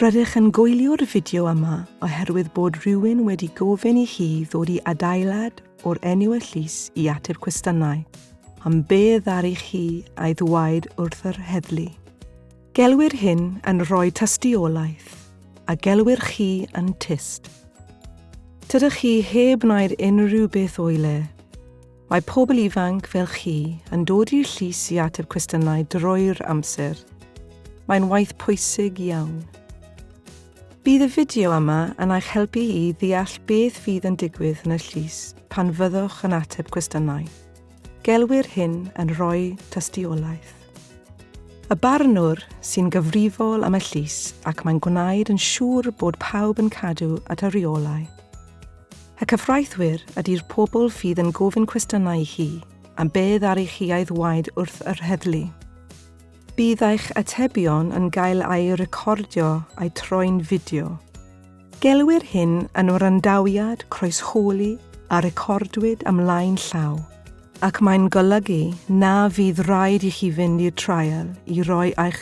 Rydych yn gwylio'r fideo yma oherwydd bod rhywun wedi gofyn i chi ddod i adeilad o'r enw y llys i ateb cwestiynau am be ddaru chi a'i ddwaid wrth yr heddlu. Gelwir hyn yn rhoi tystiolaeth, a gelwir chi yn tyst. Tydych chi heb wneud unrhyw beth o'i le. Mae pobl ifanc fel chi yn dod i'r llys i ateb cwestiynau drwy'r amser. Mae'n waith pwysig iawn. Bydd y fideo yma yn eich helpu i ddeall beth fydd yn digwydd yn y llys pan fyddwch yn ateb cwestiynau. Gelwir hyn yn rhoi tystiolaeth. Y barnwr sy'n gyfrifol am y llys ac mae'n gwneud yn siŵr bod pawb yn cadw at y rheolau. Y cyfraithwyr ydy'r pobl fydd yn gofyn cwestiynau i chi am beth ar eich iaith waed wrth yr heddlu. Bydd eich atebion yn gael eu recordio a'u troi'n fideo. Gelwir hyn yn wrandawiad croeshoeli a recordwyd ymlaen llaw, ac mae'n golygu na fydd rhaid i chi fynd i'r trial i roi eich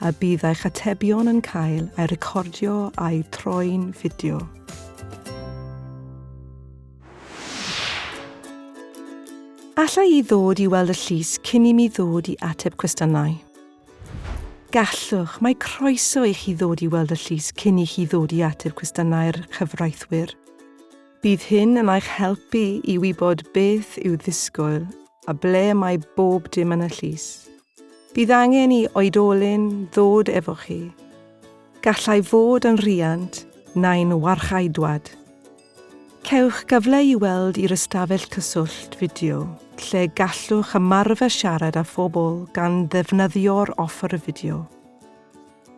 a bydd eich atebion yn cael eu recordio a'u troi'n fideo. Alla i ddod i weld y llys cyn i mi ddod i ateb cwestiynau? Gallwch, mae croeso i chi ddod i weld y llys cyn i chi ddod i ateb cwestiynau'r chyfraithwyr. Bydd hyn yn eich helpu i wybod beth i'w ddisgwyl a ble mae bob dim yn y llys. Bydd angen i oedolyn ddod efo chi. Gallai fod yn rhiant neu'n warchaedwad. Cewch gyfle i weld i'r ystafell cyswllt fideo lle gallwch ymarfer siarad â phobl gan ddefnyddio'r offer fideo.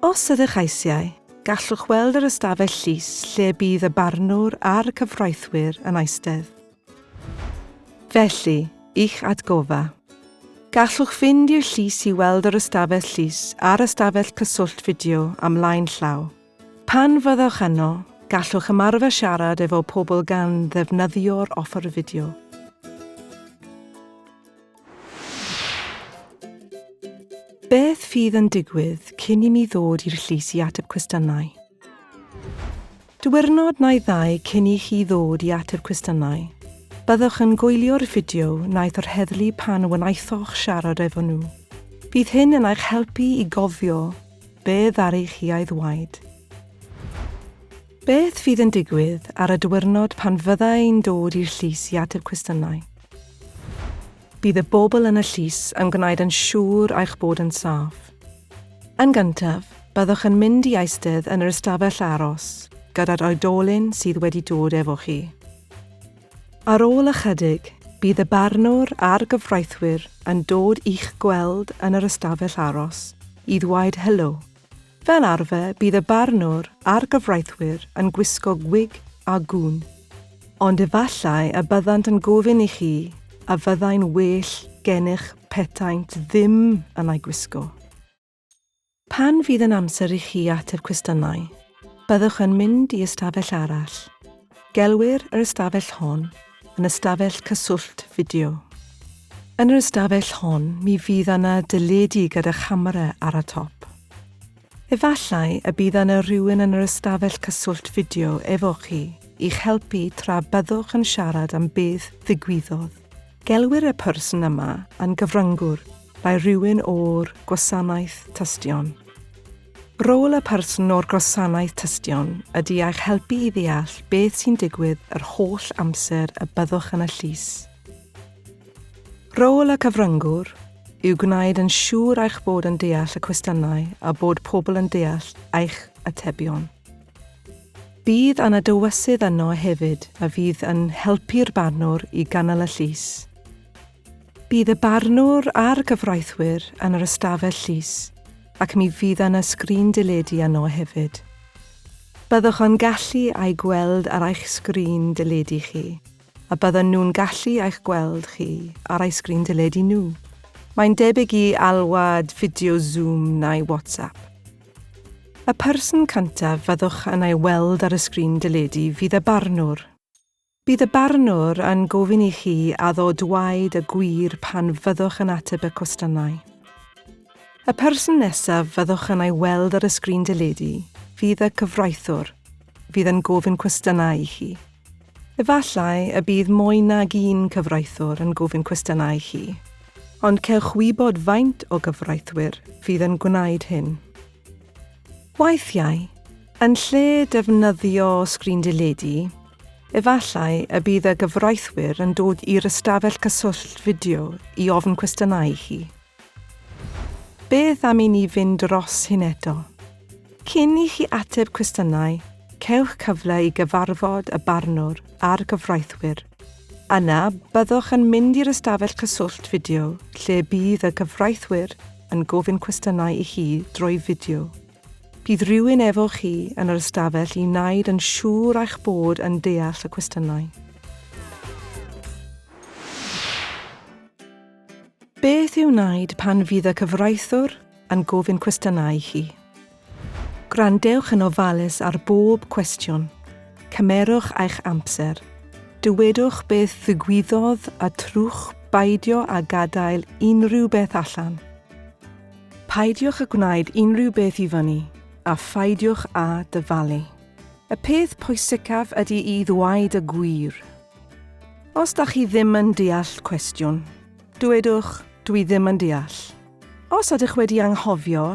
Os ydych eisiau, gallwch weld yr ystafell llys lle bydd y barnwr a'r cyfreithwyr yn eistedd. Felly, i'ch atgoffa. Gallwch fynd i'r llys i weld yr ystafell llys a'r ystafell cyswllt fideo am flaen llaw. Pan fyddwch yno, gallwch ymarfer siarad efo pobl gan ddefnyddio'r offer fideo. Beth fydd yn digwydd cyn i mi ddod i'r llys i ateb cwestiynau? Diwrnod neu ddau cyn i chi ddod i ateb cwestiynau, byddwch yn gwylio'r fideo wnaeth yr heddlu pan wnaethoch siarad efo nhw. Bydd hyn yn eich helpu i gofio be ddaru chi a'i ddweud. Beth fydd yn digwydd ar y diwyrnod pan fydda i'n dod i'r llys i ateb cwestiynau? Bydd y bobl yn y llys yn gwneud yn siŵr eich bod yn saff. Yn gyntaf, byddwch yn mynd i eistedd yn yr ystafell aros gyda'r oedolyn sydd wedi dod efo chi. Ar ôl ychydig, bydd y barnwr a'r gyfreithwyr yn dod i'ch gweld yn yr ystafell aros i ddweud helo Fel arfer bydd y barnwr a'r gyfreithwyr yn gwisgo gwig a gŵn. Ond efallai y byddant yn gofyn i chi a fyddai'n well gennych petaent ddim yn ei gwisgo. Pan fydd yn amser i chi ateb cwestiynau, byddwch yn mynd i ystafell arall. Gelwir yr ystafell hon yn ystafell cyswllt fideo. Yn yr ystafell hon mi fydd yna deledu gyda chamera ar y top. Efallai y bydd yna rywun yn yr ystafell cyswllt fideo efo chi i'ch helpu tra byddwch yn siarad am beth ddigwyddodd. Gelwir y person yma yn gyfryngwr by rywun o'r Gwasanaeth Tystion. Rôl y person o'r gwasanaeth tystion ydy eich helpu i ddeall beth sy'n digwydd yr holl amser y byddwch yn y llys. Rôl y cyfryngwr yw gwneud yn siŵr eich bod yn deall y cwestiynau a bod pobl yn deall eich atebion. Bydd yna dywysydd yno hefyd a fydd yn helpu'r barnwr i ganol y llys. Bydd y barnwr a'r gyfreithwyr yn yr ystafell llys ac mi fydd yna sgrin deledu yno hefyd. Byddwch yn gallu a'u gweld ar eich sgrin deledu chi, a byddan nhw'n gallu eich gweld chi ar eu sgrin deledu nhw. Mae'n debyg i alwad fideo Zoom neu WhatsApp. Y person cyntaf fyddwch yn ei weld ar y sgrin deledu fydd y barnwr. Bydd y barnwr yn gofyn i chi addo dwaed y gwir pan fyddwch yn ateb y cwestiynau. Y person nesaf fyddwch yn ei weld ar y sgrin deledu fydd y cyfraithwr fydd yn gofyn cwestiynau i chi. Efallai y bydd mwy nag un cyfraithwr yn gofyn cwestiynau i chi, ond cewch wybod faint o gyfraithwyr fydd yn gwneud hyn. Weithiau, yn lle defnyddio sgrin deledu, efallai y bydd y gyfraithwyr yn dod i'r ystafell cyswllt fideo i ofn cwestiynau i chi. Beth am i ni fynd dros hyn eto? Cyn i chi ateb cwestiynau, cewch cyfle i gyfarfod y barnwr a'r gyfraithwyr. Yna, byddwch yn mynd i'r ystafell cyswllt fideo lle bydd y cyfraithwyr yn gofyn cwestiynau i chi drwy fideo. Bydd rhywun efo chi yn yr ystafell i wneud yn siŵr eich bod yn deall y cwestiynau. Beth i'w wneud pan fydd y cyfraithwr yn gofyn cwestiynau i chi. Gwrandewch yn ofalus ar bob cwestiwn. Cymerwch eich amser. Dywedwch beth ddigwyddodd a trwch beidio â gadael unrhyw beth allan. Peidiwch â gwneud unrhyw beth i fyny a pheidiwch â dyfalu. Y peth pwysicaf ydy i ddweud y gwir. Os da chi ddim yn deall cwestiwn, dywedwch, Dwi ddim yn deall. Os ydych wedi anghofio,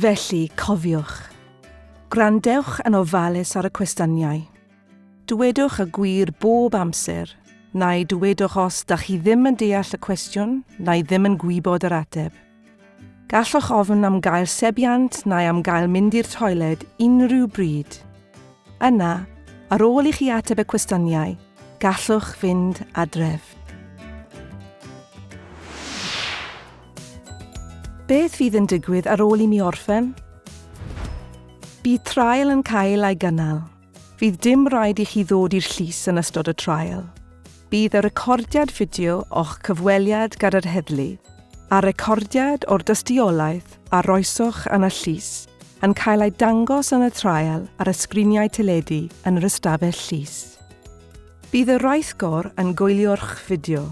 Felly, cofiwch. Gwrandewch yn ofalus ar y cwestyniau. Dywedwch y gwir bob amser, neu dywedwch os da chi ddim yn deall y cwestiwn neu ddim yn gwybod yr ateb. Gallwch ofn am gael sebiant neu am gael mynd i'r toiled unrhyw bryd. Yna, ar ôl i chi ateb y cwestyniau, gallwch fynd adref. Beth fydd yn digwydd ar ôl i mi orffen? Bydd traul yn cael ei gynnal. Fydd dim rhaid i chi ddod i'r llys yn ystod y traul. Bydd y recordiad fideo o'ch cyfweliad gyda'r heddlu a'r recordiad o'r dystiolaeth a roesoch yn y llys yn cael eu dangos yn y traul ar y sgriniau teledu yn yr ystafell llys. Bydd y rheithgor yn gwylio'ch fideo.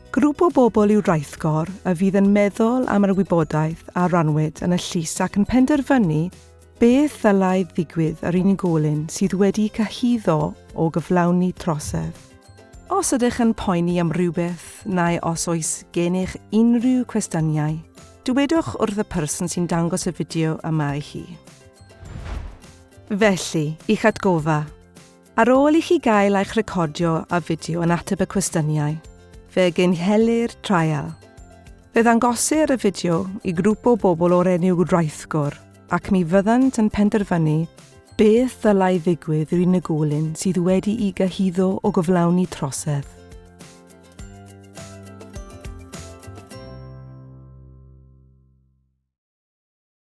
Grŵp o bobl yw Raithgor a fydd yn meddwl am yr wybodaeth a rannwyd yn y llys ac yn penderfynu beth ddylai ddigwydd â'r unigolyn sydd wedi cyhuddo o gyflawni trosedd. Os ydych yn poeni am rywbeth neu os oes gennych unrhyw cwestiynau, dywedwch wrth y person sy'n dangos y fideo yma i chi. Felly, i'ch atgoffa! Ar ôl i chi gael eich recordio a fideo yn ateb y cwestiyniau, fe gynhelir trial. Fe ddangosir y fideo i grŵp o bobl o'r enw Raithgor ac mi fyddant yn penderfynu beth ddylai ddigwydd i'r unigolyn sydd wedi'i gyhuddo o gyflawni trosedd.